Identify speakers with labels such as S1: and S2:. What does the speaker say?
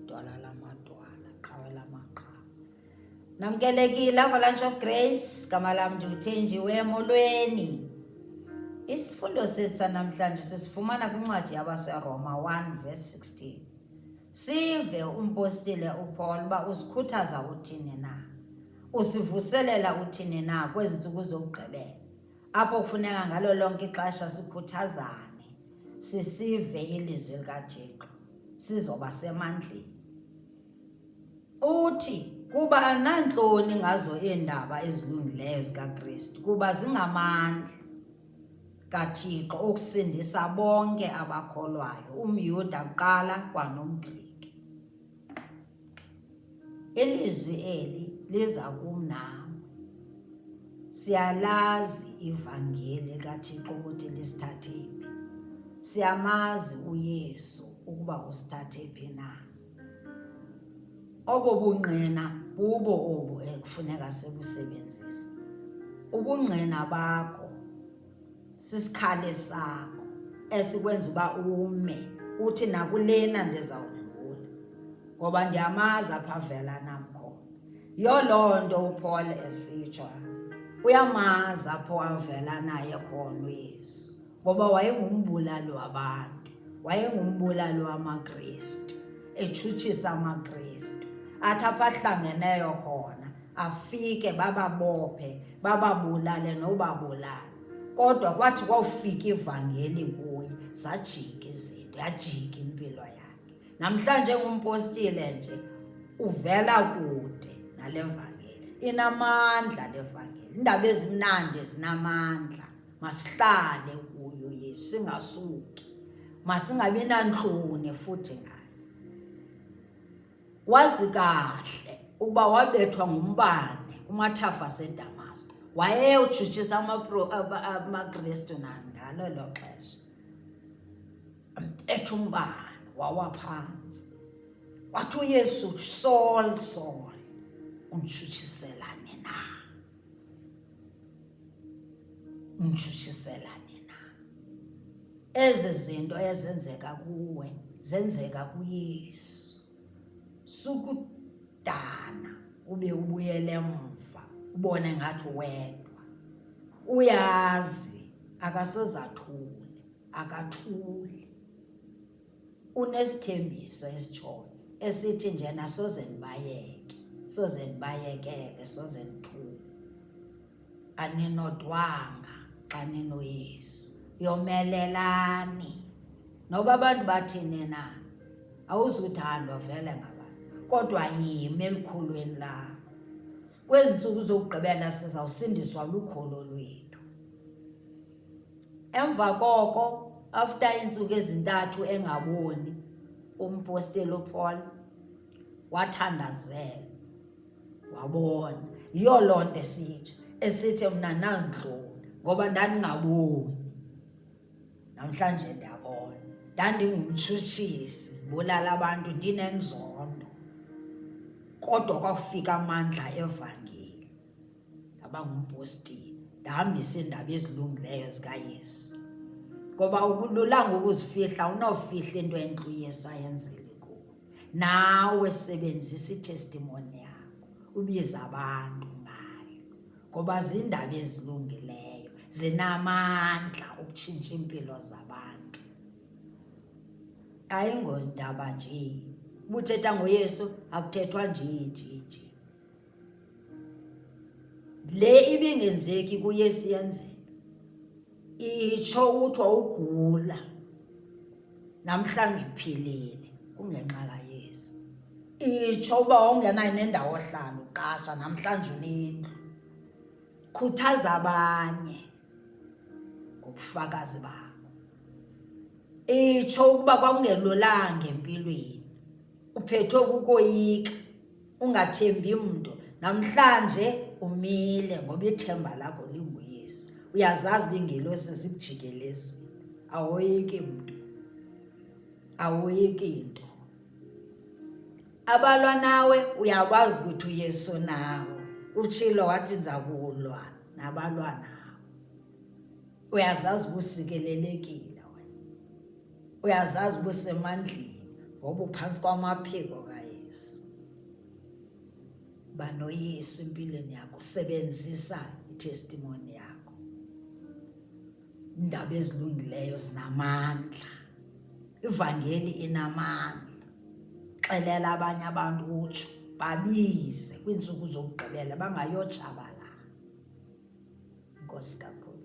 S1: Dwala lamadwala, qhawe lamaqhawe. Namkelekile Avalanche of Grace, gama lam ndiluthenjiwe emolweni. Isifundo sethu sanamhlanje sisifumana kwincwadi yabaseRoma 1 verse 16. Sive umpostile uPaul uba usikhuthaza uthini na? Usivuselela uthini na kwezi ntsuku zokugqibela? apho kufuneka ngalo lonke ixesha sikhuthazane sisive ilizwi likathixo sizoba semandleni uthi kuba anantloni ngazo iindaba ezilungileyo zikakristu kuba zingamandla kathixo okusindisa bonke abakholwayo umyuda kuqala kwanomgriki Ilizwi eli liza kum nawe. Siyalazi ivangeli kaThixo ukuthi lisithathe phi. Siyamazi uYesu ukuba usithathe phi na. Obo bungqina bubo obu ekufuneka sibusebenzise. Ubungqina bakho sisikhali sakho esikwenza uba ume uthi nakulena ndizawudlula ngoba ndiyamazi apha vela nam khona yiyo loo nto upaul esitsho uyamazi apho wavela naye khona uyesu ngoba wayengumbulali wabantu wayengumbulali wamakristu etshutshisa amakristu athi apha ahlangeneyo khona afike bababophe bababulale nobabulala kodwa kwathi kwawufika ivangeli kuye zajika izinto yajika impilo yakhe namhlanje ngumpostile nje uvela kude nale vangeli inamandla le vangeli indaba ezimnandi zinamandla masihlale kuyo yesu singasuki masingabi nantloni futhi ngayo Wazi kahle ukuba wabethwa ngumbane kumathafa aseDamasko. Wayeyotshutshisa amaKristu nangalo elo xesha. Ambetha umbane wawa phantsi. Wathi uYesu, Saul, Saul, unditshutshiselani na? Mshutshiselane na ezi zinto ezenzeka kuwe zenzeka kuYesu. Sukudana ube ubuyele emva ubone ngathi wedwa. Uyazi akasozathuli, akathuli. unesithembiso esitshoyo esithi njena soze ndibayeke soze ndibayekele soze ndithuke aninodwanga xa ninoyesu yomelelani noba abantu bathini na awuzuthandwa vele ngabantu kodwa yimi elikhulweni lakho kwezi ntsuku zokugqibela sizawusindiswa lukholo lwethu emva koko after iintsuku ezintathu engaboni umposteli upaul wathandazela wabona yiyo loo nto esitsho esithi mna nandlula ngoba ndandingaboni namhlanje ndiyabona ndandingumtshutshisi ndibulala abantu ndinenzondo kodwa kwafika amandla evangeli ndaba ngumpostile ndihambise iindaba ezilungileyo zikayesu ngoba ukululanga ukuzifihla unofihla into entlu yesu ayenzele kuwo nawe sebenzisa itestimoni yakho ubiza abantu ngayo ngoba ziindaba ezilungileyo zinamandla ukutshintsha iimpilo zabantu ayingondaba nje ubuthetha ngoyesu akuthethwa nje nje nje le ibingenzeki kuye siyenzeka itsho uthi wawugula namhlanje uphilile kungenxa kayesu itsho uba wawungenayo nendawo ohlala uqasha namhlanje unendlu khuthaza abanye ngobufakazi bakho itsho ukuba kwakungelulanga empilweni uphethwe kukoyika ungathembi mntu namhlanje umile ngoba ithemba lakho linguyesu uyazazi lingelosi zikujikelezile awoyiki mntu awoyiki nto abalwa nawe uyakwazi ukuthi uyesu nawe utshilo wathi ndiza kulwa nabalwa nawe uyazazi uba usikelelekile wena uyazazi uba usemandleni ngoba uphantsi kwamaphiko kayesu banoyesu empilweni yakho usebenzisa itestimoni yakho iindaba ezilungileyo zinamandla ivangeli inamandla xelela abanye abantu utsho babize kwiintsuku zokugqibela bangayotshabalala inkosi kakhulu